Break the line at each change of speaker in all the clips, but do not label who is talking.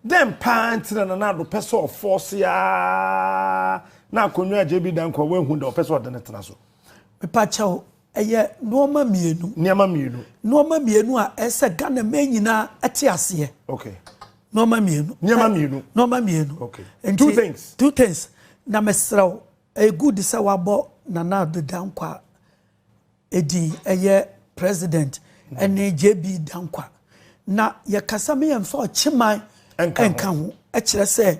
Dɛn paa nti na Nana Addo pɛ sɛ ɔfɔɔse ara na akonnwa a JB Danko a wanhu da ɔpɛ sɛ ɔde no tena so? Mepakyɛw,
ɛyɛ nnoɔma mmienu. Nneɛma mmienu.
Nnoɔma mmienu a
ɛsɛ sɛ Ghana man nyinaa te aseɛ. Okay. Nnoɔma
mmienu.
Nneɛma mmienu. Nnoɔma
mmienu. Okay.
Nti, two things.
Two things.
Na mesrɛ wo, ɛyɛ good sɛ wabɔ Nana Addo Dankwa Edi ɛyɛ president ɛne JB Dankwa na yɛkasa me yɛnfa ɔkyeman ɛnka ho ɛkyerɛ sɛ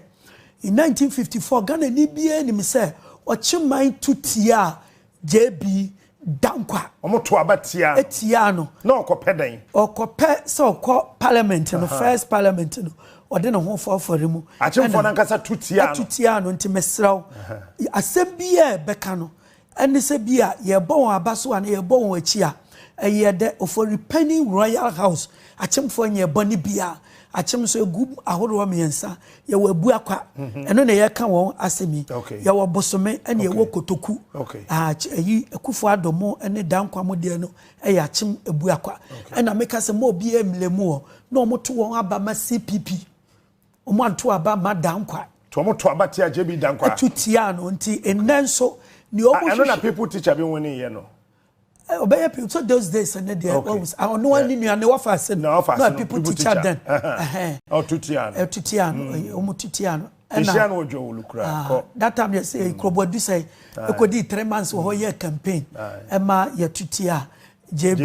in 1954 Ghana ni biara nim sɛ ɔkyeman tu tia JB Dankwa. Wɔn to aba tia.
Etia no. Na
ɔkɔpɛ dɛn?
Ɔkɔpɛ sɛ
ɔkɔ parliament no first parliament no ɔde ne ho fɔfɔre mu. Akyemfoɔ nankasa tu
tia no. Tu tia no nti mesrɛw
asɛm biara ɛbɛka no Ɛne sɛ bi a yɛrebɔ wɔn aba so anaa yɛrebɔ wɔn akyi a, ɛyɛ dɛ. Ofori Panyin Royal House akyemfoɔ nyɛɛ bɔne biara. Akyem nso, ɛgu ahoroɔ mmiɛnsa. Yɛwɔ Abuakwa, ɛno na yɛreka wɔn asɛm yi. Yɛwɔ Bosome ɛne yɛwɔ Kotoku. Ayi, Akuffo Addo mo ne Danquah mo deɛ no yɛ akyem Abuakwa. Ɛna meka sɛ mma obiara mmlɛ mu hɔ na wɔto wɔn aba ma CPP. Wɔanto aba mma Dankwa. To wɔn to aba tia
JB Dankwa. To tia no nti
nnɛ nso nea wɔn hwehwɛ. Ɛno na people teacher bi
win yɛ no. Ɔbɛyɛ
people so those days ɛnɛ deɛ wɔn ɔno wɔn ne nua ne wɔfa ase no. Na wɔfa ase no people teacher then. Ɔto
tia no. Ɛto tia no wɔn to
tia no. Ɛhyia no
ɔdwa wɔ lukura kɔ. That time yɛ sɛ
kurobo adusɛ ekodi three months wɔ hɔ yɛ campaign ɛma yɛ to tia JB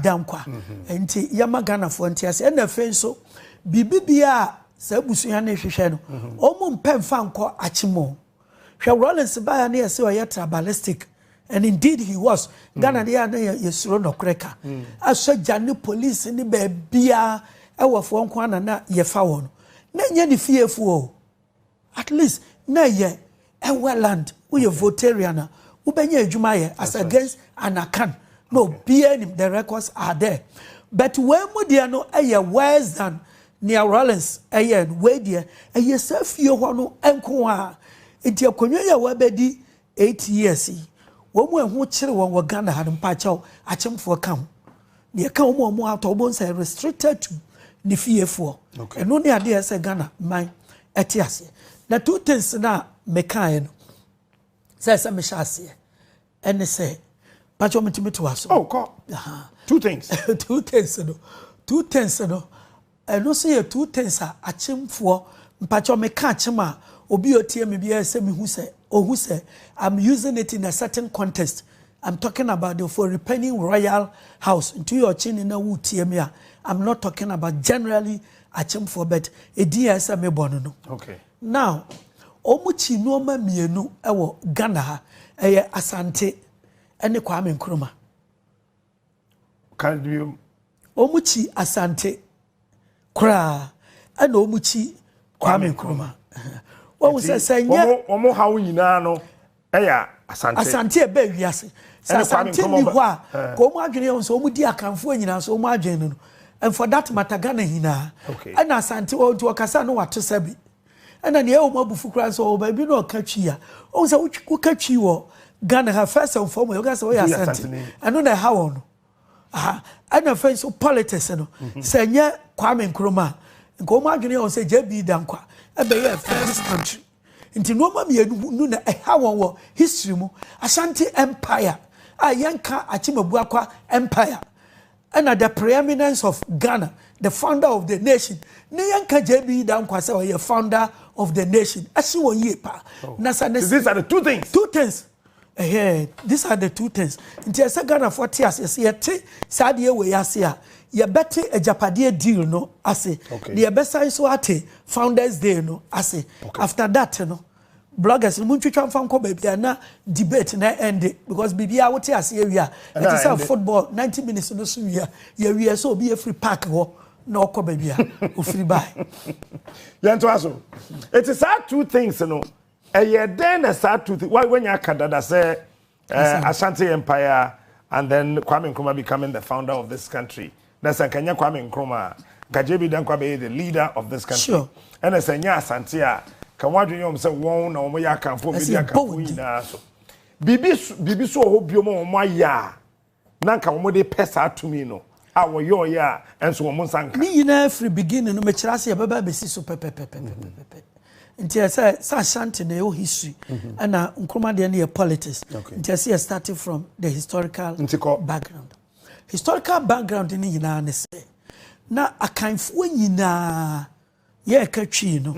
Dankwa. Nti yɛma Ghanafoɔ nte ase. Ɛna afei nso, biribi bia a saa abusua no rehwehwɛ no, wɔn mpɛ mfa nkɔ akyem o. Hwɛ Rawlings baeɛ ne yɛse ɔyɛ tribalistic and indeed he was. Ghana deɛ a na yɛsuro nɔkorɛ ka. Asogya ne polisi ne baabiara ɛwɔfoɔ nko ara na na yɛfa wɔn. Na ɛnyɛ ne fiefoɔ o. At least na ɛyɛ ɛwɛ land woyɛ votarian a wobɛnya adwuma ayɛ as against anakan na obiara nim the records are there but wei mu deɛ no ɛyɛ worse than nea Rawlings ɛyɛ no wei deɛ ɛyɛ saa fie hɔ no nko a nti akonnwa yi a wabɛdi Eight years yi, wɔn a ɛho kyere wɔn wɔ Ghana ha no, mpakyɛw, akyemfoɔ ka ho. Deɛ ɛka wɔn a wɔn atɔ, wɔn sɛ restricted to ne fiefoɔ. Okay. Ɛno ne adeɛ sɛ Ghana man ɛte aseɛ. Na two things na mekaeɛ no, sɛ ɛsɛ mehyɛ aseɛ, ɛne sɛ, mpakyɛw metumi to aso. Oh, kɔ.
Two things. two things no,
two things no, Ɛno nso yɛ two things a akyemfoɔ, mpakyɛw me ka akyem a, obi a ɔtie me biara sɛ me hu sɛ, ɔhu sɛ I'm using it in a certain context, I'm talking about the Ofori-Panyin Royal House, nti woyɛ ɔkyeni na woretie me a, I'm not talking about generally akyemfoɔ but edin a ɛyɛ sɛ mebɔ no no. Okay.
Now,
wɔn kyi nneɛma mmienu wɔ Ghana ha, ɛyɛ Asante ne Kwame Nkrumah. Ka
bio. Wɔn kyi
Asante koraa ɛna wɔn kyi Kwame Nkrumah. Wɔn sɛ sɛ nyɛ. Wɔn wɔn haw nyinaa
no ɛyɛ Asante. Asante ɛbɛ
ewiase. Sɛ Asante ni hɔ a, eh. ka wɔn adwene yɛn sɛ wɔn di Akanfoɔ nyinaa so wɔn adwene no no. And for that matter Ghana nyinaa. Okay. Ɛna Asante wɔn nti wɔkasa no wato sɛbi. Ɛna nea ɛwɔ mu abufu koraa sɛ ɔwɔ baabi na ɔka twi a ɔhu sɛ woka twi wɔ Ghana ha first and foremost woka sɛ woyɛ asante ɛno na ɛha wɔn no aha ɛna afei nso politics no mhm. sɛ nyɛ Kwame Nkrumah nka wɔn adwene yɛ wɔn sɛ JB Dankwa ɛbɛyɛ first country nti nneɛma mmienu no na ɛha wɔn wɔ history mu Ashanti empire a yɛnka Akyemabua kwa empire Ɛna the preeminence of Ghana the founder of the nation ne yɛn ka JB Dankwa sɛ ɔyɛ founder of the nation ɛsi wɔ yie paa oh. na sa ne these are the two
things two things ɛhɛ these
are the two things nti ɛsɛ Ghana fo te ase ɛsɛ yɛte saa deɛ wɔ yɛ ase a yɛbɛte agyapadeɛ deal no ase na yɛbɛsan so ate founders day no ase after that no. Bloggers no montwitwa mfa nkɔ baabi a na debate na ɛnde because biribiara wote ase awie a ɛte sɛ football 90 minutes no so wie a yɛwie sɛ obi afiri park hɔ na ɔkɔ baabi a ofiri bae. Yɛntoa
so. Eti saa two things no ɛyɛ dɛn na saa two things wanya aka dada sɛ Eh, Ashanti Empire and then Kwame Nkrumah becoming the founder of this country. Na sɛ nka nyɛ Kwame Nkrumah a, nka JB Dankwa bɛyɛ the leader of this country. Sure. Ɛna sɛ nyɛ
Asante
a, ka wɔn adwene yɛ wɔn sɛ wɔn na wɔn yɛ akanfo, wɔn bɛdi akanfo nyinaa so. Biribi biribi so wɔ hɔ bio ma wɔn ayɛ a. na anka wɔn de pɛ saa tumi no a wɔyɔɔyɛ a ɛnso wɔn nsa nka. Ne nyinaa firi beginning
no mekyerɛ ase yɛbɛba abɛsi so pɛpɛpɛpɛpɛpɛ nti ɛsɛ sɛ ashanti na ɛwɔ history mm-hmm. ɛna nkroma deɛ no yɛ politics nti ɛsɛ yɛ starting from the historical background historical background no nyinaa ne sɛ na akanfoɔ nyinaa Yɛreka Twi no,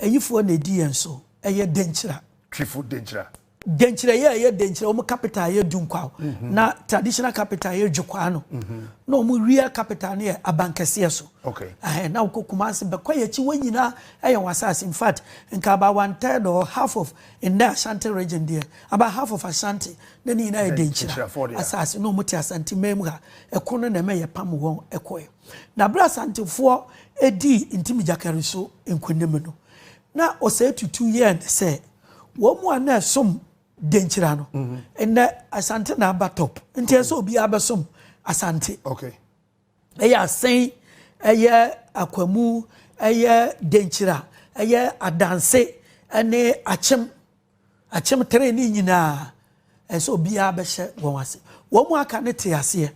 ayifoɔ na ɛdi yɛn so, ɛyɛ Denkyira. Twifo Denkyira.
Denkyira yɛ ɛyɛ
Denkyira, wɔn capital yɛ Dunkwao, na traditional capital yɛ Dwokwaa no, na wɔn wia capital no yɛ Abankɛseɛ so. Okay. Ɛhɛn, na wokɔ
Kumasi,
bɛkɔ yɛn akyi, wɔn nyinaa ɛyɛ wɔn asase. In fact, nka about one third or half of nnɛ Ashanti region deɛ, about half of Ashanti, na ne nyinaa yɛ Denkyira asase, na wɔn te Asanteman mu ha. Ɛko no na ɛma yɛpam wɔn kɔɛ. Na bere a Asantefoɔ dii Ntimi Gyakari so nkonim no, na ɔsɛe tutu yɛɛ ne sɛ wɔn mu a na ɛsom Denkyira no, nnɛ Asante na aba top. Nti ɛsɛ sɛ obiara bɛsom Asante.
Ɛyɛ
Asen, ɛyɛ Akwamu, ɛyɛ Denkyira, ɛyɛ Adanse, ne Akyem. Akyem three ne nyinaa ɛsɛ obiara bɛhyɛ wɔn ase. Wɔn mu aka no te aseɛ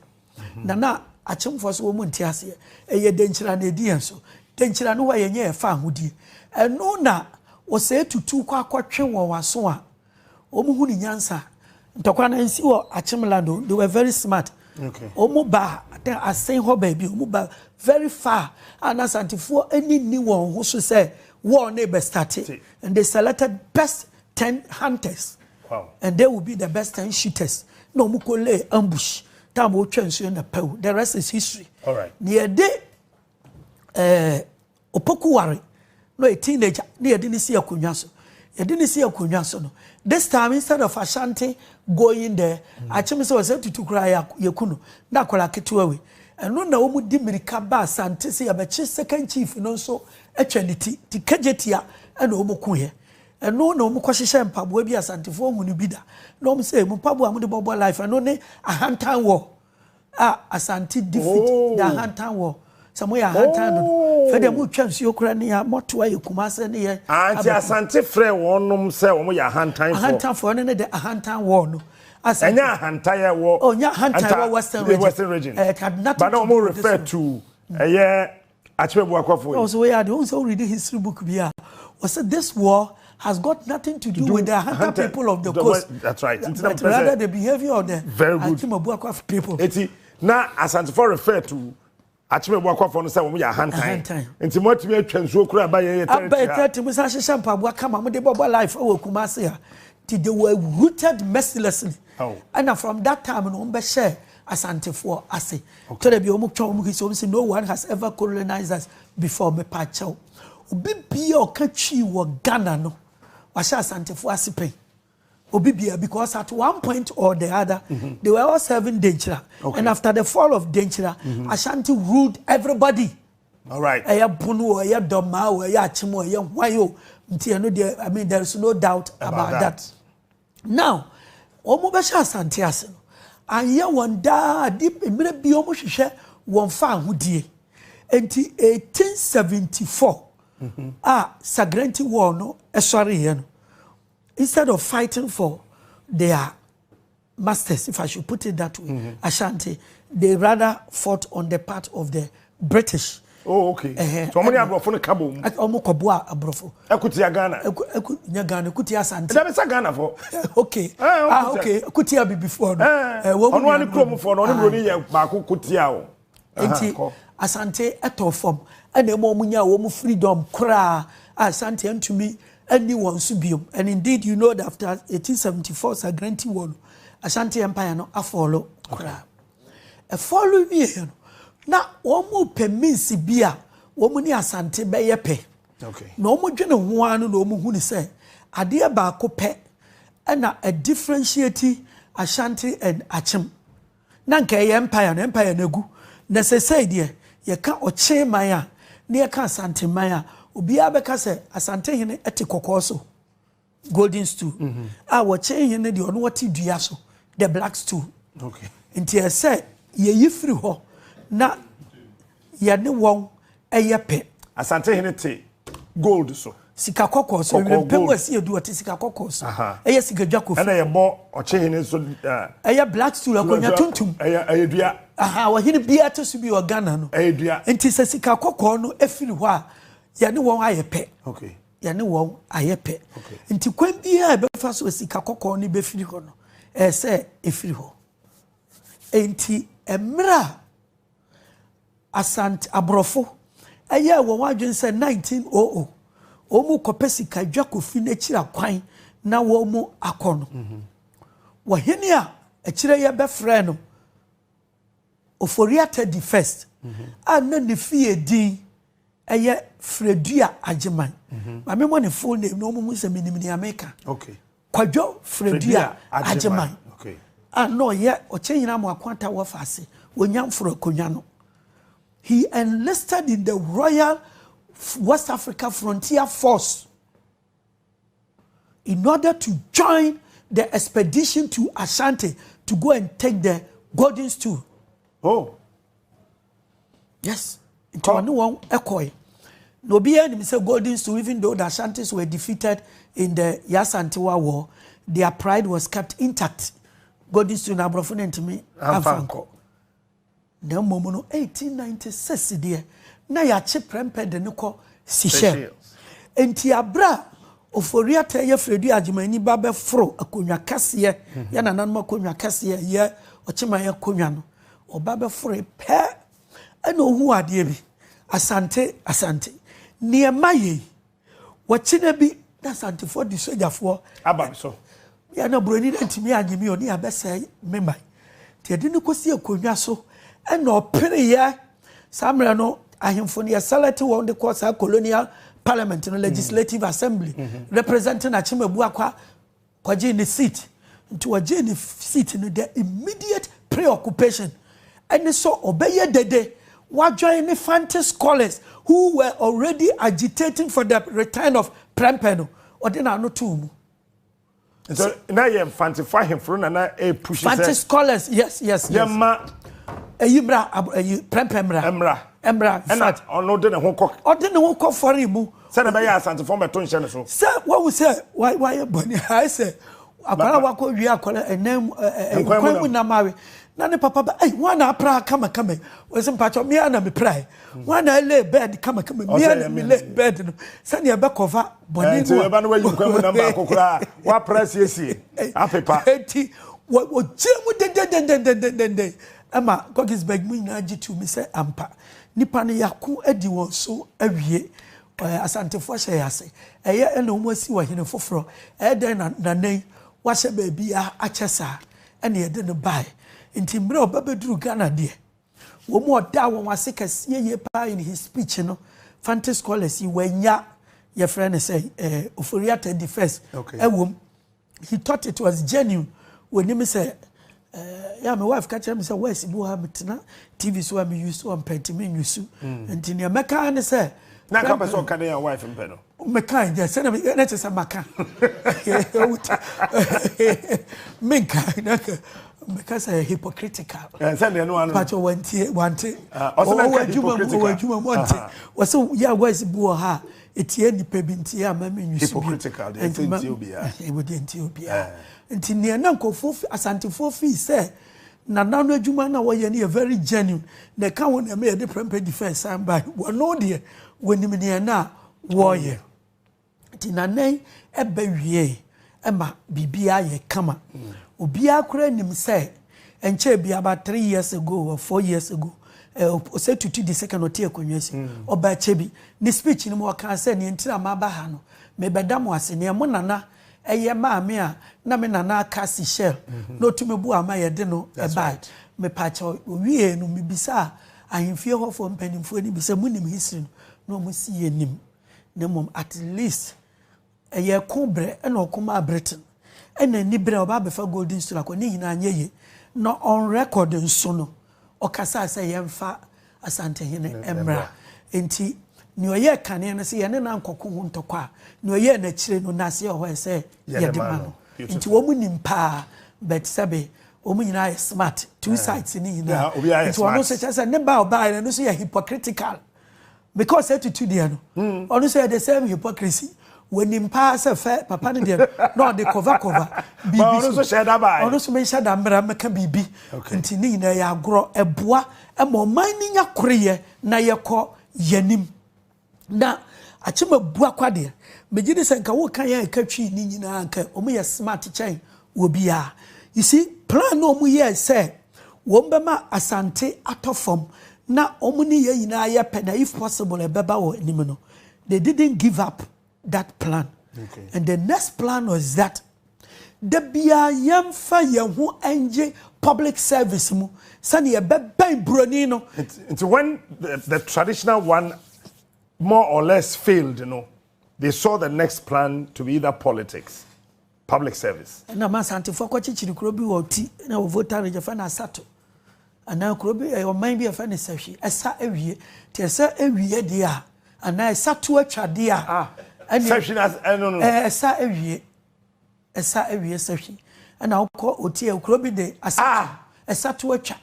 na na akyemfoɔ so wɔn mu nte aseɛ. Ɛyɛ denkyira na ɛdi yɛn so. Denkyira no hɔ a yɛnyɛ yɛfa ahodie. Ɛno na ɔsɛe tutu kɔ akɔtwe wɔn aso a wɔn hu ne nyansa. Ntɔkwa no nsi wɔ akyem land o. They were very smart. Wɔn ba asen hɔ baabi wɔn ba very far a na asantefoɔ ani nni wɔn ho so sɛ wɔn na ɛbɛstate. And they selected best ten hunters. Wow. And they
will be the best
ten shooters. Na wɔn kɔ lay ambush. Time wɔtwa nsuo na pɛw. The rest is history. All right. Na yɛde ɛɛ eh, opokuware na yɛ teenager na yɛde ne si akonnwa so. Yɛde ne si akonnwa so no. This time instead of Ashanti going there, mm. akyem sɛ wɔsɛ tutu koraa yɛku no na akwadaa ketewa wei. Ɛno na wɔn di mirika ba Asante sɛ yɛbɛkye second chief no nso twa ne ti nti kagyetia na wɔn ku yɛ ɛno na wɔn kɔ hyehyɛ mpaboa bi asantefoɔ hu no bi da na wɔn sɛ mu mpaboa wɔn de bɔbɔ life ɛno ne ahantan wɔ a asante defeat oh. the ahantan wɔ sɛ mo yɛ ahantan no oh. fɛ deɛ mo twa nsuo kura ne yɛ mɔto ayɛ kuma sɛ ne yɛ anti ah, asante
frɛ wɔnom sɛ wɔn yɛ ahantan fɔ ahantan fɔ ɛno ne de ahantan
wɔ no asante ɛnyɛ ahantan
yɛ wɔ ɔnyɛ oh, ahantan wɔ
western region western region ɛɛ eh, had nothing to do with this one but na wɔn
refer to ɛyɛ. Akyerɛ boakwafo yi. Ɔsɛ woyɛ ade ohun sɛ wo read
history book bi a ɔsɛ this war has got nothing to do with the hunter people of the coast that's right but
rather the
behavior of the Akyema boakwafo
people.
Eti na
Asantefo refer to Akyema boakwafo no sɛ wɔn yɛ ahantan nti mo atumi atwa nsuo kura aba yɛn yɛ tɛrɛti ha. Aba yɛ tɛrɛti mo san
hyehyɛ mpaboa kama mo de bɔbɔ life wɔ Kumasi ha ti they were rooted mercilessly ɛna from that time no wɔn bɛ hyɛ. Asantefoɔ ase. Twerɛ bi a wɔn twa wɔn history wɔn si no one has ever colonized us before mepa kyɛw. Obi bia ɔka twi wɔ Ghana no wahyɛ Asantefoɔ ase pɛn. Obi bia because at one point or the other mm -hmm. they were all serving Denkyira okay. and after the fall of Denkyira mm -hmm. Ashanti ruled everybody. All right.
Ɛyɛ pono o ɛyɛ
dɔmaa o ɛyɛ akyem o ɛyɛ hwan o nti ɛno deɛ I mean there is no doubt about, about that. that. Now wɔn bɛ hyɛ asante ase no anyɛ wɔn daa ade mmerɛ bi wɔn hwehwɛ wɔn fa ahodie nti 1874 mhm. a sagrenti war no ɛsɔre yɛ no instead of fighting for their masters if I should put it that way mm -hmm. Ashanti they rather fought on the part of the British. Oh, okay. Uh
-huh. So, ọmọ ni aborɔfo no ka bɔ mu. Ọmọ kɔ boa
aborɔfo. Ɛkutia Ghana. Ɛku
ɛku nya Ghana
ɛkutia Asante. Ɛdɛbi sɛ Ghana fo.
Okay. Eh,
ah, okay. Ɛkutia bibifo no. Eh, wɔn mu ni anu. Ɔno ani kurom
fo no, ɔno mu ni yɛ baako kutia o. Nti
Asante ɛtɔ fam ɛna ɛmu ɔmo nya wɔn freedom koraa a Asante ɛntumi ɛni wɔn so biom and indeed you know that after 1874 Sagranti war no Asante empire no afɔlo koraa. Ɛfɔr wiei no, na wɔrepɛ means bi a wɔn ne Asante bɛyɛ pɛ. Na wɔdwene
ho
ara no na wɔhunu sɛ adeɛ baako pɛ na ɛdifferentiate Ashanti and Akyem. Na anka ɛyɛ empire no, empire no agu. Na seesei deɛ yɛka Ɔkye man a, na yɛka Asante man a, obiara bɛka sɛ Asantehene te kɔkɔɔ so. golden stool a wɔkyɛn hɛn no deɛ ɔno ɔte dua so the black stool nti
ɛsɛ
yɛyi firi hɔ na
yɛne
wɔn
ɛyɛ
pɛ. asante hene
te gold
so. sika kɔkɔɔ so wimpɛ mu ɛsi edu ɔte sika kɔkɔɔ so ɛyɛ sika dwa kofi. ɛna yɛbɔ ɔkye
hene so. ɛyɛ black
stool akonnwa tuntum. ɛyɛ ɛyɛ dua.
aha ɔhene biara
te so bi wɔ ghana no. ɛyɛ dua. nti sɛ
sika kɔkɔɔ
no efiri hɔ a yɛne wɔn ayɛ pɛ. okay. yɛne
wɔn
ayɛ pɛ nti kwan biara ɛbɛfa so sika kɔkɔɔ no bɛfiri hɔ no ɛyɛ sɛ ɛfiri hɔ nti mmerɛ a asante aborɔfo ɛyɛ wɔn adwene sɛ 1900 wɔn kɔpɛ sika dwa kofi n'akyiri akwan na wɔn akɔ no wɔhene a akyire yɛ bɛfrɛ no Ofori Atta di First a na ne fie din yɛ Fredua Agyeman. Ma me mmɔ ne full name na wɔn hu sɛ menim nea meka. Okay. Kwadwo Fredua Agyeman a
na ɔyɛ
Ɔkyɛnyina Amoako Atta Wɔfa ase wɔ Nyamforo Akonnwa no. He enlisted in the Royal West Africa Frontier Force. in order to join the expedition to Ashanti to go and take the golden stool. Oh. Yes. Nti oh. ɔne wɔn ɛkɔe. Na obiara nim sɛ golden stool even though the Ashantis were defeated in the Yasantewa war, their pride was kept intact. Golden stool na aborɔfo no ntumi amfa nkɔ. Na mmom no, 1896 deɛ, na yɛakye prɛmpɛ de no kɔ Seychelles. Enti aberɛ a Ofori-Atta yɛ Fredu Agyeman-Nyi ba bɛforo akonnwa kɛseɛ, yɛ nananom akonnwa kɛseɛ a ɛyɛ Ɔkyeman akonnwa no, ɔba bɛforoe pɛ na ɔhuu adeɛ bi, Asante, Asante, nneɛma yei. Wɔkyena bi na Asantefoɔ de sogyafoɔ aba me so.
Me a na buroni
no antumi annye me ɔni abɛsɛe me man. Nti ɛde no kɔsi akonnwa so ɛna ɔpereeɛ. Saa mmerɛ no ahemfo no yɛselɛte wɔn de kɔ saa colonial parliament no, legislative assembly, representing Akyem Abuakwa Ɔgyee ne seat. Nti ɔgyee ne seat no dɛ immediate preoccupation ne sɛ ɔbɛyɛ dede ɔadwen ne Fante scholars who were already agitating for the return of Prempeh no. Ɔde n'ano too mu.
Nti na yɛ Mfantefo ahemfo no na na ɛrepush sɛ. Fante scholars, yes,
yes, yes. Yɛmma.
Ɛyi mmra,
ɛyi Prempeh mmra. Mmra. Mmra. Ɛna ɔno de ne
ho kɔ. Ɔde ne ho kɔ fɔre
mu. Sɛdeɛ ɛbɛyɛ a Asantefoɔ
mmɛto nhyɛ ne so. Sɛ wahu sɛ
wayɛ bɔne a, ayɛ sɛ akwadaa a wakɔ wie akwadaa ɛnan mu nkwan mu nam awe na ne papa ba ɛyi wɔn na apra kamakama yi wɔsi mpatsɔ mmea na mepra yi wɔn na ɛlɛ bɛɛd kamakama mmea na melɛ bɛɛd no sɛnea ɛbɛ kɔfa bɔne mu a ɛba no wayi nkwan mu nam baako koraa wapra siesie
apepa eti wɔgyina
mu dendendendendendenden ɛma gɔgis bɛg mu nyinaa gye tu mi sɛ ampa Nipa no yako adi wɔn so awie. Ɛ, Asantefo ahyɛ yɛn ase. Ɛyɛ na wɔn asi ɔhene foforɔ. Ɛyɛ dɛn na nana yi wahyɛ baabiara akyɛ saa? Ɛna yɛde no baeɛ. Nti mmerɛ a ɔba bɛduru Ghana deɛ, wɔn mu ɔdaa wɔn ase kɛseɛ yie pa ara in his speech no, Fante scholars yi, wɔannya, yɛfrɛ no sɛn, ɛ, Ofori-Atta the first, ɛwɔ mu. He thought it was genuine. Wɔnim sɛ eh, yɛ me wife ka kyerɛ me sɛ west bi wɔ ha metena TV so a me use ɔmpɛ nti me nyusu. Mm. Nti nea mɛka ne sɛ na nka pɛ sɛ ɔka
dɛn a wife mpɛ no meka yɛ sɛ
na kyɛ sɛ maka menka na meka sɛ hypocritical eh, sɛ deɛ no ano
but wantie wante
ah, ɔwɔ adwuma mu ɔwɔ adwuma mu ɔnte wɔsɛ yɛ wise bi wɔ ha Etia nnipa bi nti a ma me nwi so bio. Hypocritical deɛ ɛsɛ ntia
obiara. Ɛwɔ deɛ ntia obiara.
Nti neɛ na nkurɔfoɔ fi Asantefoɔ feel sɛ Nana no adwuma no a wɔyɛ no yɛ very genuine na ɛka ho na ɛma yɛde prɛmpɛ defence san bae. Wɔno deɛ wɔnim deɛ na wɔyɛ. Nti Nana yi ɛbɛ wieeɛ ɛma biribiara yɛ kama. Obiara koraa nim sɛ ɛnkyɛɛ bi about three years ago or four years ago ɔsɛ tutu di second ɔte akonnwa si hmm. ɔba akyɛ bi ne speech no mu ɔkaa sɛ nea ntira ma aba ha no mebɛda mo ase nea mo nana ɛyɛ maame a na me nana aka si shell hmm. na ɔtumi bu ama yɛde no ɛbae mepaakyɛ owie no mebisaa ahemfie hɔfoɔ mpanimfoɔ no bi sɛ monim history no na ɔmo si yɛ nim na mmom at least Ɛyɛ ɛko berɛ na ɔko maa Britain ɛna ani berɛ a ɔba abɛfa Golden Stool akɔ ne nyinaa anyɛ yie na on record nso no ɔkasaa sɛ yɛmfa Asantehene mmra nti nea ɔyɛɛ kane no sɛ yɛne no ankɔko ho ntɔkwa a nea ɔyɛɛ no akyire no n'ase ɛhɔ ɛsɛ yɛde ma no nti wɔn nim paa but sɛbe wɔn nyinaa yɛ smart two sides ne nyinaa nti ɔno nso kyɛ sɛ ne ba ɔbaa no nso yɛ hypocritical. because etutu deɛ no hmm. ɔno nso yɛ the same hypocrisy wɔnim paa sɛ fɛ papa no deɛ na ɔde kɔva kɔva biribi so
ɔno nso menhyɛ da mmara
mɛka biribi nti ne nyinaa yɛ agorɔ ɛboa ma ɔman no nya koreyɛ na yɛkɔ yɛnim na akyema bua kwa deɛ megye ne sɛ nka woka yɛ ɛka twii ne nyinaa nka ɔmo yɛ smart kyɛn wɔ biaa. You see plan no ɔmo yɛɛ sɛ wɔn bɛma Asante atɔ fam na ɔmo ne yɛn nyinaa yɛ pɛ na if possible ɛbɛba wɔ anim no they didn't give up that plan and the next plan was that da biaa yɛn fa yɛn ho ngye public service mu sɛnea yɛbɛbɛn broni no. Nti when
the, the traditional one more or less failed no they saw the next plan to be either politics. Public service. Ɛna ma Asantefoɔ
kɔkyekyere kuro bi wɔ Ɔti na wɔ Volta Region yɛfrɛ no Asato anaa kuro bi ɛyɛ ɔman bi a yɛfrɛ no Sahwi ɛsa awie nti ɛsa awie deɛ a anaa ɛsa to atwa deɛ a ah, ɛne Sahwi na ɛno
no ɛsa awie
ɛsa awie Sahwi ɛna wokɔ Ɔti kuro bi de Asato. Ah. Ɛsa to atwa.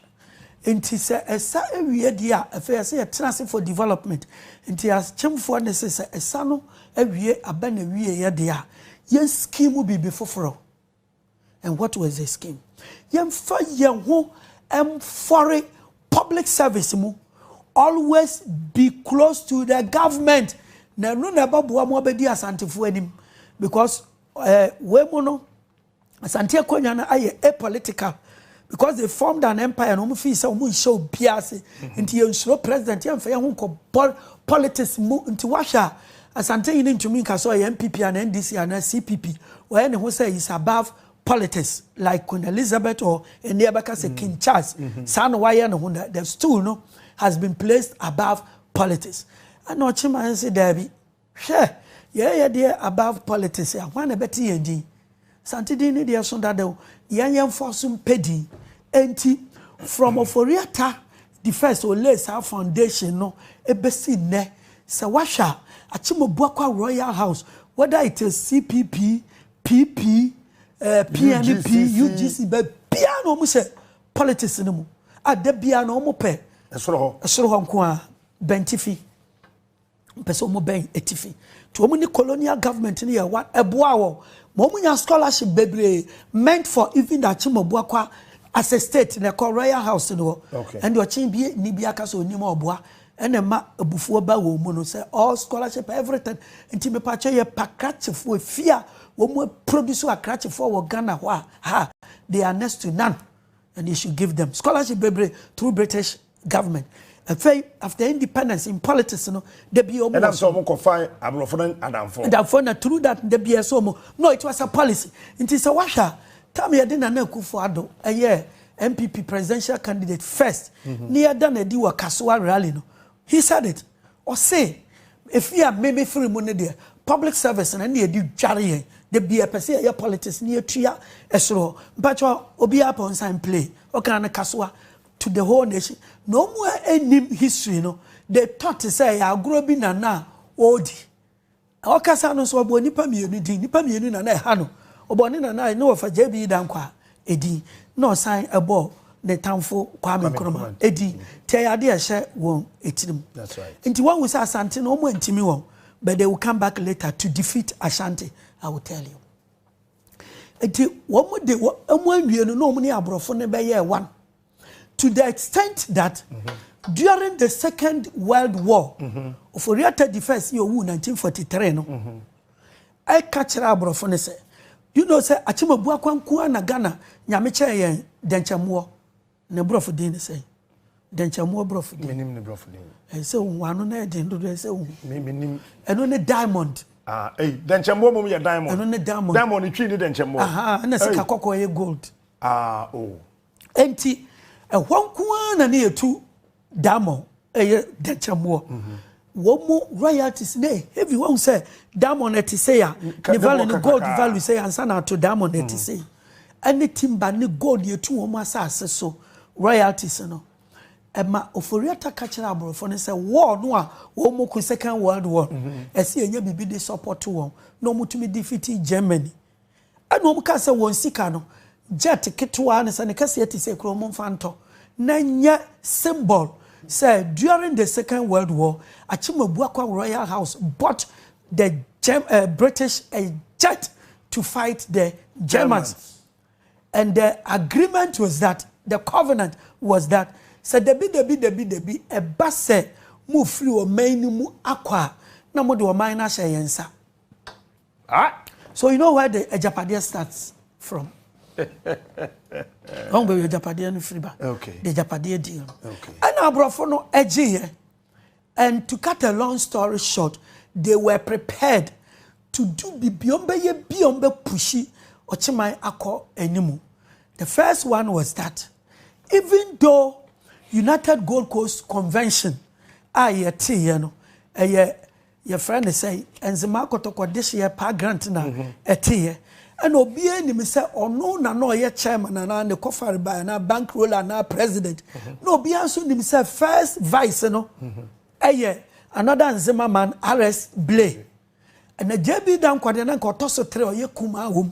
Nti sɛ ɛsa awie deɛ a, afei ɛsɛ yɛtena ase for development. Nti akyemfoɔ nne se sɛ ɛsa no awie aba n'awieɛ deɛ a, yɛn scheme biribi foforɔ. And what was the scheme? Yɛmfa yɛn ho mfɔre public service mu. Always be close to the government. Na ɛno na ɛbɛboa mo abɛdi asantefoɔ anim. Because eh, wei mu no, Asante akonwa no ayɛ a political because they formed an empire na wɔn fii sɛ wɔn nhyɛ obiara ase nti yɛn nsuro president yɛn nfa yɛn ho nkɔ bɔl politics mu nti wahwɛ a Asante yi ne ntumi nka sɛ ɔyɛ NPP ana NDC ana CPP ɔyɛ ne ho sɛ is above politics like Queen Elizabeth or ɛnni ɛbɛka sɛ King Charles saa na wayɛ ne ho na the stool no has been placed above politics ɛna ɔkyema nse daabi. Hwɛ! Yɛɛ yɛ deɛ above politics a, hwan na ɛbɛte yɛn din? Asante din no deɛ so dada o, yɛn yɛmfoɔ so mpɛ din. Enti, from Ofori-Atta the first ɔlayed saa foundation no bɛsi nnɛ, sɛ woahwɛ a, Akyem-Obuakwa Royal House, whether it is CPP, PP, eh, PNP, UGC. UGC, baabiara na wɔn hyɛ politics no mu a, da biara na wɔn pɛ Ɛsoro hɔ. ɛsoro hɔ nko ara, bɛntifi. Wɔpɛ sɛ wɔn bɛn atifi. Nti wɔn ne colonial government no yɛ one ɛboa wɔn ma wɔn nya scholarship bebree meant for even the Akyemɔbuakwa as a state na ɛkɔ royal house no hɔ. Okay. Ɛnde ɔkyen bi ni bi aka sɛ onim ɔboa ɛna ɛma abufuo ba wɔn mu no sɛ all scholarship everything. Nti mepatwa yɛ pa krakyefoɔ efi a wɔn produce akrakyefoɔ wɔ Ghana hɔ a ha they are next to none and they should give them scholarship bebree through British government afei after independence in politics no da bi ɔmo ɛnam sɛ ɔmo kɔ fa aborɔfo no adamfo adamfo na through that da bi ɛsɛ ɔmo no it was a policy nti sɛ wahwɛ a tam yɛde nana akufo ado ɛyɛ npp presidential candidate first mhm. ne yɛda na adi wɔ kasoa rally no he said it ɔse efi a mmemme firi mu ne deɛ public service na ne yɛde dware yɛn da bi ɛpɛ sɛ yɛyɛ politics ne yɛtua ɛsoro mpakyɛ obiara pɔn san play ɔkan no kasoa to the whole nation na ɔmu a ɛnim history no de tɔ te sɛ ɛyɛ agorɔ bi na na ɔredi ɔkasa no nso ɔbɔ nnipa mmienu din nnipa mmienu na na ɛha no ɔbɔ ne nana ne wɔfa gya bi da nkwa edin na ɔsan ɛbɔ ne tamfo Kwame Nkrumah edin nti ɛyɛ adeɛ ɛhyɛ wɔn etirim nti wɔn sɛ Asante no wɔn ntumi wɔn but they will come back later to defeat Ashanti I will tell you. Nti wɔn de wɔn anwie no na wɔn ne aborɔfo no bɛyɛɛ one to the extent that mm -hmm. during the second world war mm -hmm. Ofori-Atta the first yɛ owu 1943 no mm -hmm. ɛka kyerɛ aborɔfo no sɛ you know sɛ Akyemabu Akwankuwa na Ghana nyame kyɛɛ yɛn dɛnkyɛmmoɔ Ne borɔfo din ne sɛn? Dɛnkyɛmmoa borɔfo din. Menim ne borɔfo din. Ɛyɛ sɛ wohu ano na ɛyɛ den dodo ɛyɛ sɛ wohu. Me menim. Ɛno ne diamond. Ah, ei, dɛnkyɛmmoa mmom yɛ diamond. Ɛno ne diamond. Diamond ne twi ne dɛnkyɛmmoa. Aha, ɛna sika kɔkɔɔ yɛ gold. Ah, oh. Enti, ɛhɔ nko ara na ne yɛtu. Diamond ɛyɛ dɛnkyɛmmoɔ wɔn mo royalties na heavy wɔn sɛ diamond ɛte sɛ ya ne value ne gold value sɛ ya nsa na ato diamond ɛte sɛ yi ɛne timba ne gold yɛ tu wɔn asase so royalties no ɛma oforiata ka kyerɛ aborɔfo no sɛ war no a wɔn mo ko second world war ɛsɛ yɛnyɛ biribi de support wɔn na wɔn tumi defeat germany. Ɛna wɔkaa sɛ, Wɔn sika no, jet ketewaa ne sɛ ne kɛseɛ te sɛ kuro, momfa ntɔ na ɛnyɛ symbol sɛ during the second world war, Akyem Abuakwa Royal House bought the Germ uh, British a jet to fight the Germans. And the agreement was that, the covenant was that, sɛ dabi dabi dabi dabi ɛba sɛ mofiri ɔman no mu akɔ a, na mode ɔman no ahyɛ yɛn nsa.
Ah! So you know
where the agyapadeɛ starts from? Ɔn baabi agyapadeɛ no firi ba. Okay. The agyapadeɛ
deal no.
Okay. Ɛna aborɔfo
no
gyeeɛ. And to cut a long story short, they were prepared to do bibi wɔn bɛyɛ bi wɔn bɛ pushi ɔkyeman akɔ anim. The first one was that even though United Gold Coast Convention a yɛteeɛ no ɛyɛ Yɛfrɛ no sɛ Enzima Akɔtɔkɔ Dehyeɛ Paa Grant na ɛteeɛ. Ɛna obiara nim sɛ ɔno na na ɔyɛ chairman anaa ne kɔfare bae anaa bank roller anaa president. Na obiara nso nim sɛ first vice no yɛ another Nzema man RS Blay. Ɛna JB Dankwah deɛ na nka ɔtɔ so tere ɔyɛ kumaa wom.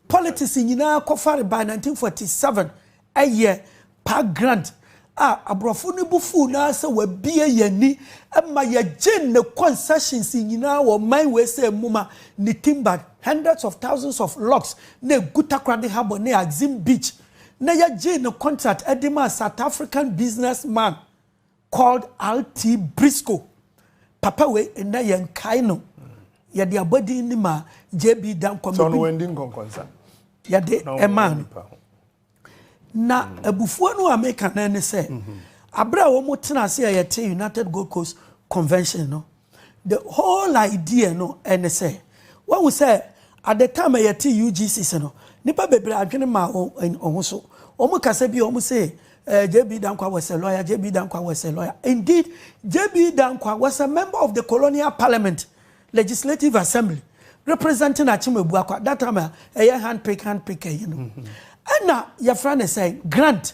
Politics nyinaa kɔfare by 1947 ɛyɛ Park Grant a aborɔfo no bo fuw no ara sɛ wabue yɛn ani ma yɛgyee ne concessions nyinaa wɔ ɔman wei sɛ mmuma ne timbered hundreds of thousands of logs na egu Takoradi Harbour ne Axim Beach na yɛgyee ne contract de maa South African businessman Called RT Briscoe, papa wei nnɛ yɛ nkae no, yɛde abɔdin no maa JB Dankwam. Sɛ ɔno wandi nkɔnkɔnsa.
Yɛde
ɛmaa no. Na mm. abufuo no a meka no ne sɛ, mm-hmm. abere a wɔn tena ase a yɛte United Gold Coast Convention no, The whole idea no ne sɛ, wahu sɛ at the time a yɛte UGCs no, nnipa bebree adwene maa wɔn ho so. Wɔn kasa bi a wɔn se eh, JB Dankwa was a lawyer, JB Dankwa was a lawyer. Indeed, JB Dankwa was a member of the colonial parliament, legislative assembly, representing Akyem Abuakwa, that time a ɛyɛ handpick handpick ɛyi no. Ɛna yɛfrɛ ne sɛ Grant,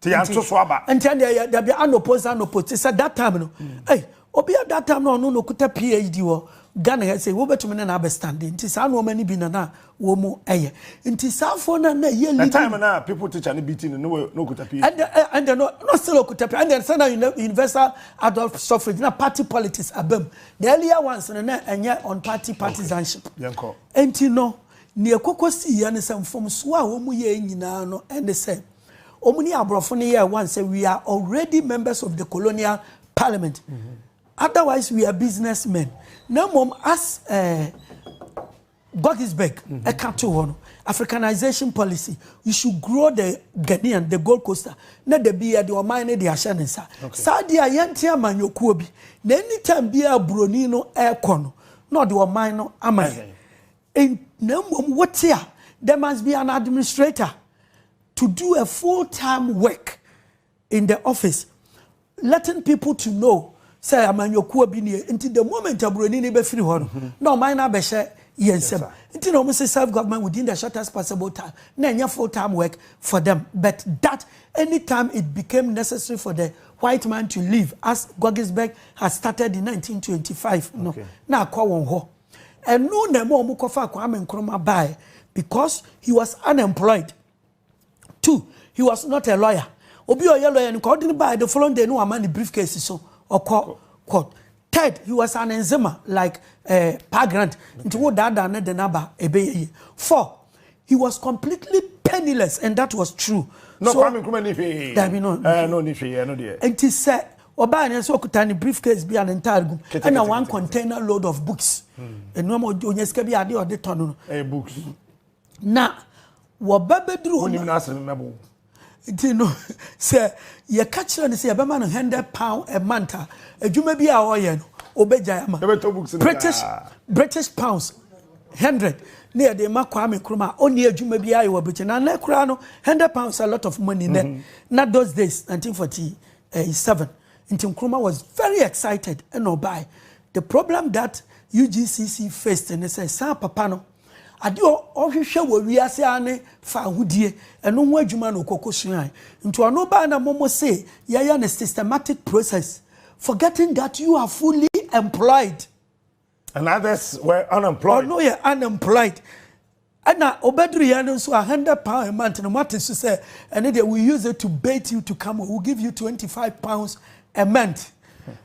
Ti yɛn to so aba. Nti ɛnde yɛ dabi anopo nsa anopo ti sɛ that time no. Ei obi a that time no ɔno na okuta PhD wɔ Ghana ha sei wobɛtumi ne no abɛ stand nti saa nnoɔma no bi na na wɔn ɛyɛ nti saa foɔ no na ɛyɛ leading. The time na people
teacher no beating no na okuta PhD. Ɛnde ɛnde no na still
okuta PhD ɛnde sɛ na universal adult suffrage na party politics abam the earlier ones no na ɛnyɛ on party partisanship. Nti
no
nea ɛkɔkɔ sii yɛ no sɛ mfomsoɔ a wɔn yɛ nyinaa no ɛne sɛ. Wɔn ne aborɔfo no yɛɛ one sɛ we are already members of the colonial parliament otherwise we are business men na mmom as eh, Godisberg ɛka to hɔ no africanization policy you should grow the Ghanaian the Gold Coaster na da bi yɛde ɔman no de ahyɛ ne nsa saa deɛ a yɛnte amanyɔkuo bi na anytime biara buroni no ɛrekɔ no na ɔde ɔman no ama yɛn And na mmom wote a, there must be an administrator to do a full time work in the office letting people to know sɛ amanyɔkuo bi nie nti the moment aburoni ni bɛfiri hɔ no mm-hmm. na ɔman no abɛhyɛ yɛn nsam nti na wɔn sɛ self government within the shortest possible time na ɛnyɛ full time work for them but that anytime it became necessary for the white man to leave as Gogisberg had started in 1925 no na akɔ wɔn hɔ. Ɛno na ɛma wɔn kɔfa Kwame Nkrumah baeɛ because he was unemployed. Two, he was not a lawyer. Obi ɔyɛ lawyer no kɔ ɔde no baeɛ the following day no wama ne briefcase so ɔkɔ court. Third, he was an enzima like uh, eh, pagrant. Nti wo daadaa ne de n'aba ɛbɛyɛ yie. Four, He was completely penniless and that was true. No, so, Kwame Nkrumah ni
hwee.
Dabi no. Eh, no ni hwee,
no deɛ. Nti sɛ
ɔbaa ne nso ɔkuta ne briefcase bi a ne ntaade gum ɛna one container load of books. Nneɛma hmm. onye sika bi ade ɔde tɔ no. Eh, books. Na
wɔba
bɛduru hɔ. Wonim n'asɛm mɛbo. Nti no, sɛ yɛka kyerɛ no sɛ yɛbɛma no hundred pound a month a, adwuma bi a ɔyɛ no, obegyae ama. Yɛbɛtɔ books no daa. British British pounds hundred ne yɛde ma Kwame Nkrumah a ɔnni adwuma bi ayɛ wɔ Britain. Na nnɛ koraa no, hundred pounds a lot of money nnɛ. Na those days, nineteen forty seven, nti Nkrumah was very excited ɛna ɔbae. The problem that UGCC faced ne sɛ saa papa no, Ade a ɔhwehwɛ wɔ wiase ara ne fawohodie, ɛno ho adwuma na ɔkɔkɔsuae. Nti ɔno baa na momo se yɛyɛ no systematic process, forgetting that you are fully employed. And
others were unemployed. Ɔno yɛ
unemployed. Ɛna ɔbɛduruiɛ no nso a hundred pound a month no moate so sɛ ɛne deɛ we use it to bait you to come, we will give you twenty five pounds a month.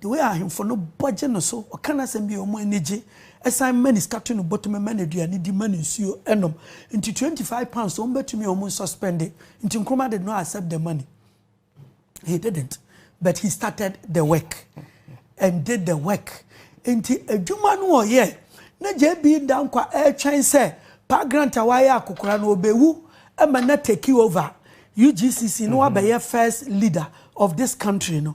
The way ahemfo no bɔ gye no so, ɔka n'asɛm bi a wɔn ani gye, ɛsan ma ne sika to no bottom, ma no aduane di, ma no nsuo nom. Nti twenty five pounds wɔn bɛtumi a wɔn suspende. Nti Nkrumah did not accept the money. He didn't. But he started the work and did the work. Nti adwuma no ɔyɛ na JB Dankwa ɛretwɛn sɛ pa grant a wayɛ akokora no ɔbɛwu ɛma na take over UGCC no wabɛyɛ first leader of this country no.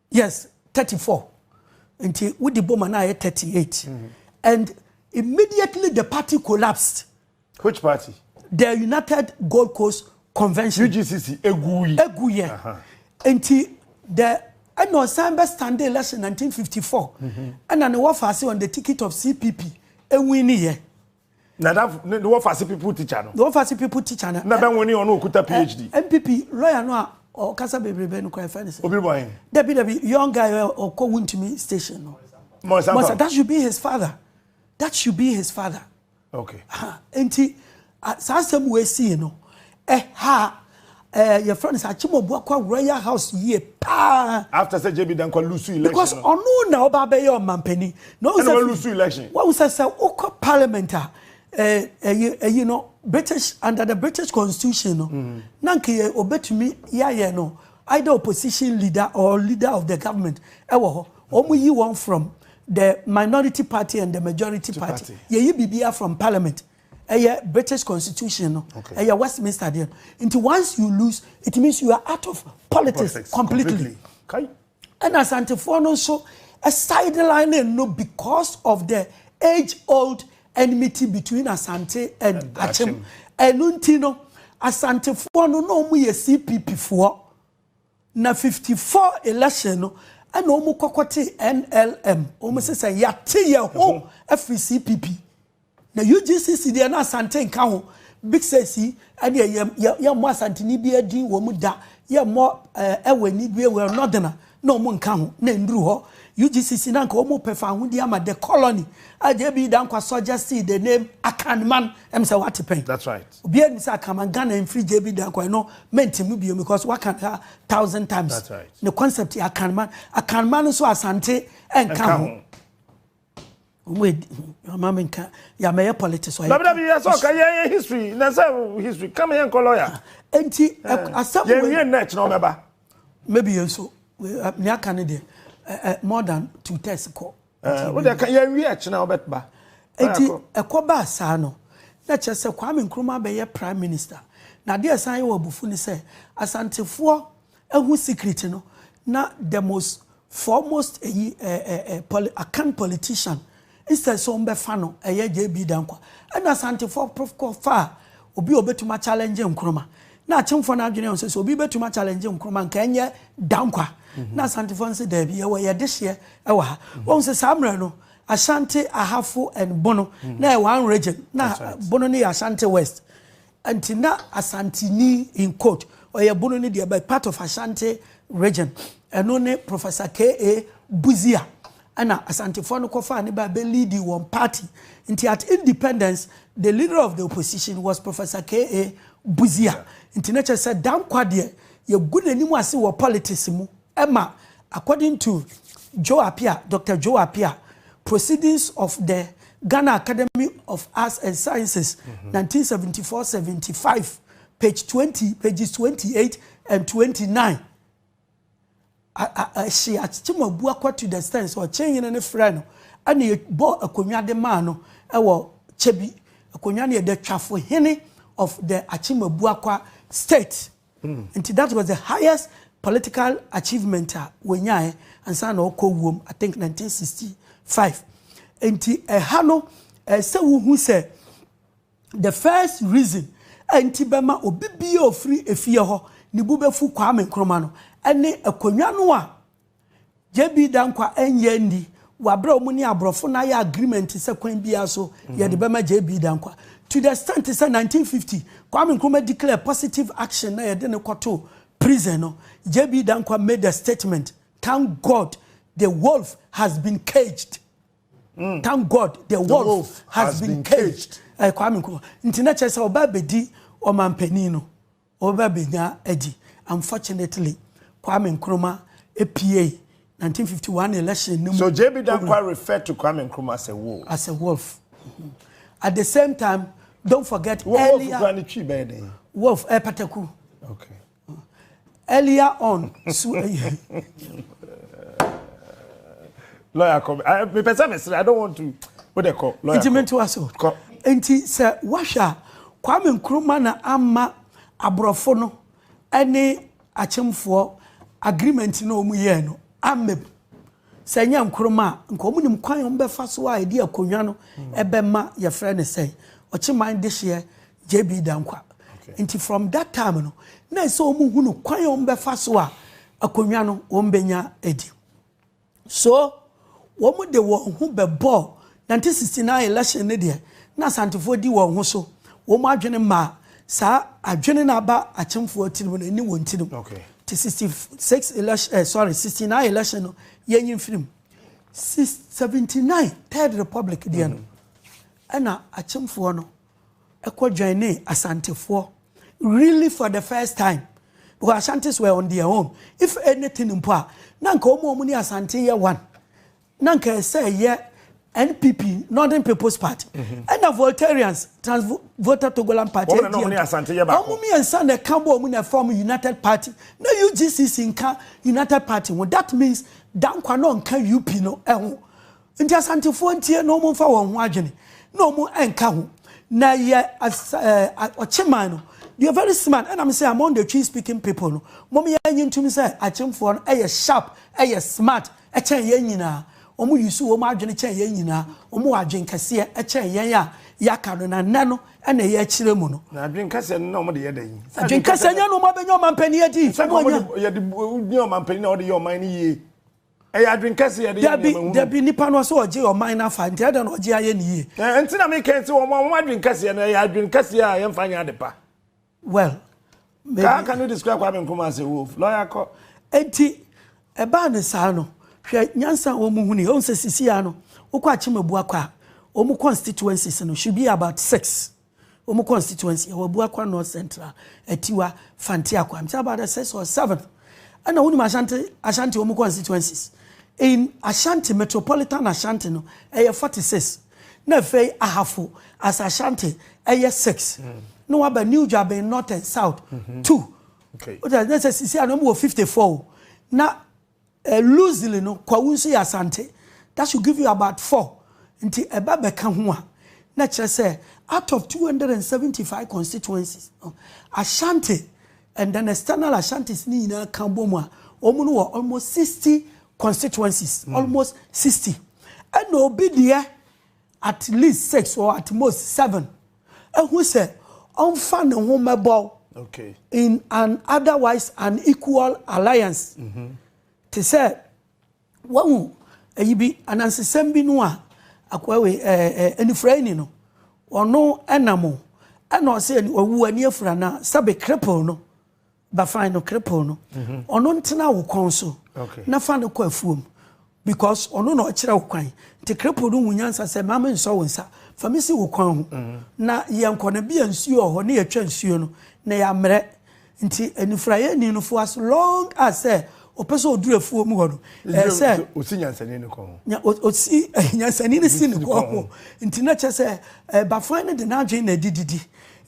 Yes, thirty four. Nti wo di boma na ayɛ thirty eight. Mm-hmm. And immediately the party collapsed. Which party?
The United
Gold Coast Convention. UGCC eguyi.
Eguyi. Uh-huh.
Nti the ɛna ɔsan bɛ stand election 1954 ɛna ne wɔfa ase on the ticket of CPP ewin ne yɛ. Nadafo
ne wɔfase pipu tikya no. Ne wɔfase pipu tikya
no. Na bɛ nwene ɔno okuta
PhD. NPP lɔya no a
ɔkasa bebrebe no kora ɛfɛ ne sɛ. Obi bɔ hen? Dabi
dabi young guy
ɔkɔ wuntumi station no. Mɔnsa Mɔnsa that should
be his father
that should be his father. Okay.
Nti
saa asɛm wɔ esi no Ɛha ɛɛ yɛfrɛ no sɛ Akyemɔbu akɔ Royal House yie paa. After sɛ JB Dankwa
lose election. Because ɔno na ɔba
abɛyɛ ɔmampanin. Na ɔwɔ sɛ. Ɛna lose election.
Wɔn sɛ sɛ wokɔ
parliament a ɛyi ɛyi no British under the British constitution no. Mm. Na nka yɛ obetumi yɛayɛ no either opposition leader or leader of the government ɛwɔ hɔ. Wɔn yi wɔn from the minority party and the majority party. Yɛyi biribiara from parliament. Ɛyɛ British constitution no. Okay. Ɛyɛ Westminster deɛ no. Nti once you lose, it means you are out of politics, politics completely. Kai.
Ɛna Asantefoɔ
no nso sideline no because of the age old enmity between Asante and, and Akyem. Ɛno nti no, Asantefoɔ no na wɔn yɛ CPP foɔ. Na 54 election no ɛna wɔn kɔkɔ te NLM. Wɔn sɛ sɛ yɛate yɛn ho afiri CPP. Na UGCC deɛ na Asante nka ho, Big Six yi ɛdeɛ yɛ yɛ yɛmmɔ Asanteni biara din wɔ mu da, yɛmmɔ ɛɛ Ɛwɛni biara wɔ Northerner na wɔn nka ho, na ɛnduru hɔ. UGCC na anka wɔn pɛ fawohodie ama the colony, a JB Danquah suggested the name Akanman, ɛm sɛ wate pɛn? That's right. Obiara nim sɛ
Akanman,
Ghana mfiri JB Danquah, ɛno mɛnte mu biom because waka no a thousand times. That's right. Ne concept
yɛ Akanman,
Akanman nso Asante ɛnka ho. Mama me nka ya mɛyɛ politics ɔyɛ. Dabidabi yɛ sɛ ɔka yɛ yɛ
history na sɛ history kama yɛ nkɔ lawyer. Nti eh, eh,
asɛm wei. Yɛn wie nnɛ kyerɛ ɔmɛba. Maybe yɛn so ne aka ne deɛ eh, more than two thirds kɔ. Wode ka yɛn wie kyerɛ ɔbɛba. Nti ɛkɔ baa saa no na kyerɛ sɛ Kwame Nkrumah bɛyɛ prime minister. Na adeɛ san yɛ wɔ abufu ne sɛ asantefoɔ Ehu secret no na the most foremost eyi eh eh eh poli akan politician instead sɛ ɔmbɛfa no ɛyɛ JB Dankwa ɛna Asantefoɔ prof kɔ faa obi a ɔbɛtumi a challenge Nkrumah na Akyemfoɔ no adwene sɛ sɛ obi bɛtumi a challenge Nkrumah nka ɛnyɛ Dankwa na Asantefoɔ no sɛ daabi yɛwɔ yɛ dehyeɛ ɛwɔ ha wɔn sɛ saa mmerɛ no Ashanti Ahafo and Bono na yɛ one region na Bono no yɛ Ashanti West Nti na Asanteni, in quote, Ɔyɛbono no deɛ but part of Ashanti region, ɛno ne Professor KA. Busia ɛna Asantefoɔ no kɔfaa no baa bɛ leadi wɔn party. Nti at independence the leader of the opposition was Professor KA. Busia. Nti na kyerɛ sɛ Danquah deɛ yɛgu n'anim ase wɔ politics mu. Ɛma according to Joe Appiah, Doctor Joe Appiah, Proceedings of the Ghana Academy of Arts and Sciences, mm -hmm. 1974, 75, page 20, pages 28 and 29. Ɛhye akyem abu akɔ to the stand sɛ ɔkyɛn yene ne frɛ no ɛna ɛbɔ akonnwa de maa no ɛwɔ kyɛ bi akonnwa no yɛ the twafo hene of the akyem abu akɔ state. Nti that was the highest political achievement a wɔnyaeɛ ansa na ɔkɔ wuom, I think 1965. Nti ɛha no, ɛɛ sɛ wohu sɛ the first reason a nti bɛma obi bia ofiri efie hɔ ne bu bɛfu Kwame Nkrumah no ɛne akonnwa no a JB Danquah ɛnyɛ nni wabrɛ wɔn ne aborɔfo no ayɛ agreement sɛ kwan biara so yɛde bɛma JB Danquah to the extent sɛ 1950 Kwame Nkrumah declare positive action na yɛde no kɔtoo prison no JB Danquah made a statement thank God the wolf has been caged mm. thank God the, the wolf, wolf has, has been, been caged, caged. Uh, Kwame Nkrumah nti na kyerɛ sɛ ɔbaa bɛdi ɔmanpanin no Ɔreba benya adi. Unfortunately, Kwame Nkrumah puei 1951 election no mu. So JB Danquah
refer to Kwame Nkrumah as a wolf? As a wolf.
At the same time, don't forget Wo wolf earlier, kura ne twi bɛyɛ dɛn? wolf, eh, pataku.
Okay.
Earlier on, so,
lawyer kɔ mepɛ sɛ mesrɛ i don't want to wo de kɔ lawyer nti mentoa so kɔ
nti sɛ woahwɛ a kwame nkrumah na ama aborɔfo no ne akyemfoɔ agreement na wɔn yɛɛ no amem sɛ nyɛ nkrumah a nka wɔn nim kwan wɔn bɛfa so a ɛde akonnwa no ɛbɛma yɛfrɛ no sɛ ɔkyeman dehyeɛ jb dankwa nti from that time no na ɛsɛ wɔn hunu kwan wɔn bɛfa so a akonnwa no wɔn bɛnya adi. So wɔn de wɔn ho bɛbɔɔ nineteen sixty nine election ne deɛ na Asantefoɔ di wɔn ho so, wɔn adwene maa saa adwene no aba Akyemfoɔ tirim no ne wɔn tirim. Okay. Ti sixty
six
election eh, sorry sixty nine election no yɛn yi mfirim. Six seventy nine third republic deɛ no ɛna Akyemfoɔ no. kɔ joinee Asantefoɔ really for the first time because Ashantis were on their own if anything mpo a na nka wɔn a wɔn ne Asante yɛ one na nka ɛsɛ ɛyɛ NPP Northern People's Party mhm. ɛna Voltarians Trans Volta Togoland Party wɔn na wɔn ne Asante yɛ baako wɔn mmiɛnsa na ɛka bɔ wɔn na ɛfam United Party na UGCC nka United Party ho that means Dankwa na ɔnka UP no ɛho. Nti Asantefoɔ ntie na wɔn nfa wɔn ho adwene na wɔn nka ho na yɛ ɔkyeman no deɛ very smart ɛna me sɛ among the twi speaking people no wɔn yɛ anyi ntum sɛ akyemfoɔ no ɛyɛ sharp ɛyɛ smart ɛkyɛn yɛn nyinaa wɔn yusu wɔn adwene kyɛn yɛn nyinaa wɔn wɔ adwene kɛseɛ ɛkyɛn yɛn a yɛaka no na nnɛ no ɛna ɛyɛ akyerɛ mu no. na adwene kɛseɛ no na wɔn
de yɛ dɛ yi. adwene kɛseɛ nyɛ no wɔn
abɛnya ɔmanpanin adi. sɛ wɔn yɛ de
yɛ ɔmanpanin na wɔde yɛ ɔman no yie. Ɛyɛ adwene kɛse yɛde yɛ nneɛma hunu. Dabi, dabi, nipa no ɔsɛ
ɔgye ɔman no afa, nti adɛn na ɔgye ayɛ ne yie? Ɛɛ, nti na meka yi sɛ
wɔn a wɔn adwene kɛseɛ no, ɛyɛ adwene kɛseɛ a yɛmfa nyɛ ade pa. Well,
maybe. Ka,
can you describe Kwame Nkrumah as a wolf? Lawyer kɔ. Nti,
ɛbaa no saa no, hwɛ nyansa a wɔn huni, wɔn sɛ sisi ara no, wokɔ Akyem Abuakwa a, wɔn constituencies no should be about six. Wɔn constituency ɛwɔ Abuakwa North Central, Atiwa, Fante Akwaa. I'm about the sixth or seventh. Ɛna wonim Ashanti Ashanti wɔn constituencies. In Ashanti metropolitan Ashanti no ɛyɛ forty six. Na afei Ahafo as Ashanti ɛyɛ six. Mm. Na waba New Dwaben North and South mm -hmm. two. Okay. Wọ́n sɛ sisi a na wɔn wɔ fifty four. Na Eh Luzile no Kwawu nso yɛ Asante, that should give you about four, nti ɛba bɛka ho a na ɛkyerɛ sɛ out of two hundred and seventy five constituencies no Ashanti and then external Ashantis no nyinaa ka bom a wɔn no wɔ almost sixty constituencies, mm. almost sixty ɛna obi deɛ at least six or at most seven. ahu sɛ ɔmfa ne ho mmɛbɔw in an otherwise unequal alliance. Mm-hmm. Te sɛ wahu ayi bi anansesɛm bi no a akoawe anifuraeni no ɔno ɛnam ɛna ɔsɛ ɔwu ani afura na sɛbe cripple no Ba fine no krepoo no ɔno ntena wo kɔn so na fa no kɔ afuom because ɔno na ɔkyerɛ wo kwan nti krepoo no hu nyansa sɛ maame nsɔ wo nsa fa me si wo kwan ho na yɛnkɔ no bia nsuo wɔ hɔ ne yɛtwa nsuo no na yɛammerɛ nti anifuraeɛ ni no fo as long as sɛ ɔpɛ sɛ ɔduru afuo mu hɔ no ɛɛ sɛ ɔsi nyansani no kɔn
ho ɔsi
nyansani no si no kɔn ho nti na kyɛ sɛ bafan no de n'adwene na ɛdididi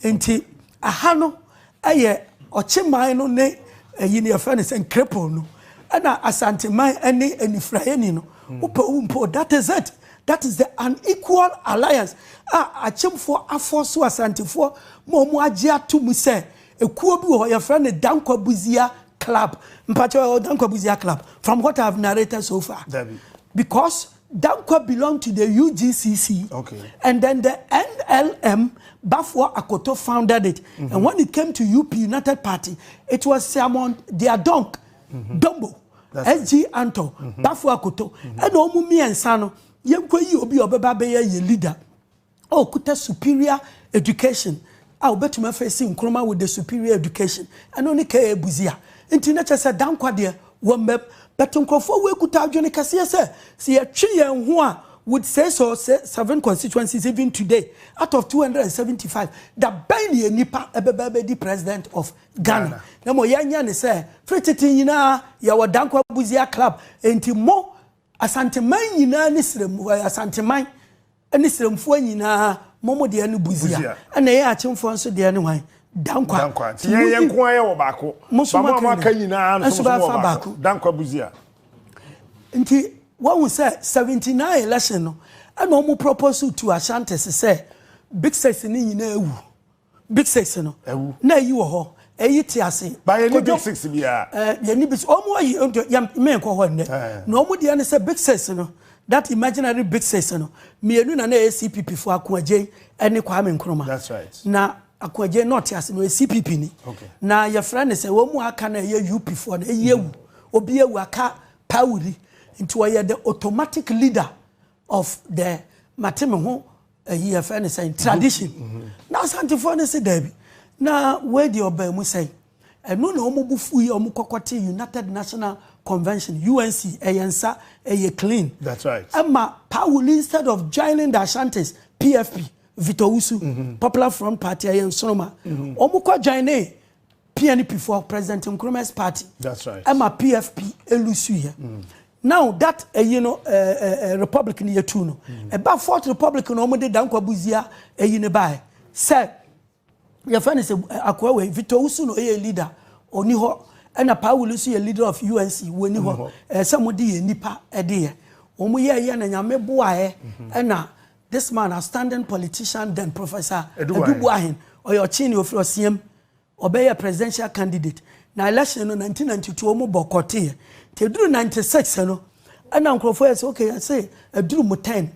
nti Aha no yɛ Ɔkyeman no ne ayi no yɛfrɛ no sɛn Krepong no ɛna Asanteman ɛne Anifuraeni no wopɛ wo mpo that is it that is the unequal alliance a Akyemfoɔ afɔɔso Asantefoɔ ma wɔn agye ato mu sɛ ekuo bi wɔ hɔ yɛfrɛ no Dankwa Buzia club mpakyɛ ɔyɛ Dankwa Buzia club from what I have narrated so far because Dankwa belong to the UGCC okay. and then the NLM Baffour Akoto founded it mm -hmm. and when it came to UP United Party it was Siamon Diadonk mm -hmm. Dombo SG Anto mm -hmm. Baffour Akoto ɛna mm -hmm. ɔmo mmiɛnsa no yɛnkɔ yi obi ɔbɛba bɛyɛ yɛ leader. ɔkuta superior education a obetumi afeesi Nkrumah with the superior education. Ɛno ne KA Busia. Nti na kyerɛ sɛ Danquah deɛ wɔ mmam. But nkurɔfoɔ wei kuta adwene kɛseɛ sɛ, sɛ yɛtwe yɛn ho a with six or se seven constituencies even today out of 275, da bɛn na yɛn nipa ɛbɛba abɛdi president of Ghana? Na mmom yɛnyɛ ne sɛ, firi tete nyinaa yɛwɔ Danquah Busia club. Nti mo Asanteman nyinaa ne srɛm, Asanteman, Ɛne srɛmfoɔ nyinaa mo mo deɛ no buzia ɛna yɛn akyemfoɔ nso deɛ no hwan dankwa dankwa nti yɛn yɛn nko ayɛ
wɔ baako ba mo a moaka nyinaa no nso mo wɔ baako dankwa buzia
nti wɔhu sɛ 79 election no ɛna wɔn propose to Ashantis sɛ big six no nyinaa awu Big six no. Ɛwu. Na eyi wɔ hɔ, eyi te ase. Ba yɛ ni big six
biara. Ɛɛ yɛ ni big six. Wɔn
ayi nti yɛ mmɛn kɔ hɔ nnɛ. Na wɔn deɛ ne sɛ big six no that imaginary big six no mmienu na na ɛyɛ CPP fo Akoagyen ɛne Kwame Nkrumah. That's right. Na
Akoagyen
na ɔte ase no yɛ CPP ni. Okay. Na yɛfrɛ ne sɛ wɔn mu aka na ɛyɛ UP foɔ no eyi ewu. Obi ewu aka pawuri nti ɔyɛ the automatic leader of the mate me ho ayi yɛfrɛ no sɛn tradition na asantefoɔ no se daabi na wei deɛ ɔbaa mu sɛn ɛno na wɔn bu fu yi wɔn kɔkɔ te united national convention unc ɛyɛ nsa ɛyɛ clean that's right ɛma
pawuli
instead of joining the ashantis pfp Victor Usu, mm -hmm. Popular Front Party, ɛyɛ nsoroma. Mm -hmm. Wɔn kɔ join ne PNP foɔ President Nkrumah's party. That's right. Ɛma
PFP
elusu yɛ. Mm. Now that ɛyi no ɛɛ ɛɛ republic ni yɛ tu no. Mm. Ɛba fourth republic na wɔn de dankwa buzia ɛyi ne baa yɛ. Sɛ yɛfɛ ne sɛ akoa wei Victor Usu no ɛyɛ leader ɔni hɔ ɛna Paa Wuli nso yɛ leader of UNC wɔni hɔ ɛsɛ mo de yɛ nipa ɛde yɛ wɔn yɛ ɛyɛ na nyame boa ɛ mhm. ɛna this man a standing politician then professor Edubuahin ɔyɛ ɔkye ne ofiri ɔsiam. Ɔbɛyɛɛ presidential candidate na election no nineteen ninety two ɔmo boycott yɛ nti eduru ninety six no ɛna nkorɔfoɔ yɛ sɛ okay yɛse eduru mu ten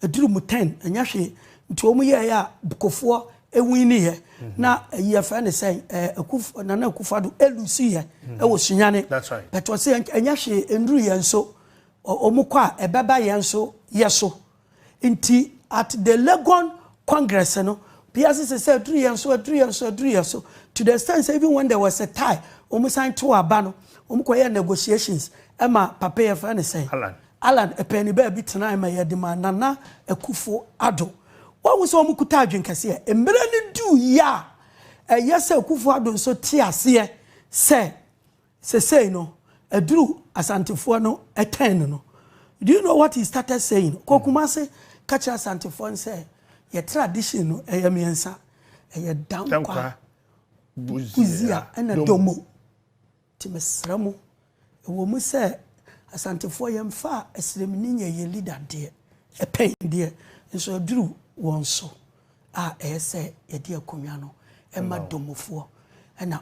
eduru mu ten ɛnyɛ hwee nti ɔmo yɛɛyɛ a bkofoɔ ewini yɛ na ɛyi yɛfrɛ ne sɛn ɛɛ akuf nana akufo ado elusu yɛ ɛwɔ sunyane but ɔse
ɛnyɛ hwee
enduru yɛn so ɔmo kɔ a ɛbɛba yɛn so yɛso. Nti at the Legon congress no, obiara sese sɛ aduru yɛn so, aduru yɛn so, aduru yɛn so, to the extent sɛ even when there was a tie, wɔn san too aba no, wɔn kɔ yɛɛ negotiations ɛma papa yɛ fɛ ne sɛ. Allan. Allan ɛpɛɛni baabi tenae ma yɛde maa Nana Akufo Addo. Wahu sɛ wɔn kuta adwene kɛseɛ. Mmere no duu yɛ a, ɛyɛ sɛ Akufo Addo nso te aseɛ sɛ Sesei no aduru Asantefoɔ no turn no do you know what he started saying kɔ Kumase ka kyerɛ Asantefoɔ no sɛ yɛ tradition no ɛyɛ mmiɛnsa ɛyɛ Dankwa, Buzia ɛna Domo nti mesrɛ mo ɛwɔ mu sɛ Asantefoɔ yɛmfa Asiremni nyɛ yɛn leader deɛ ɛpɛn deɛ nso aduru wɔn so a ɛyɛ sɛ yɛde akonnwa no ɛma Domofoɔ ɛna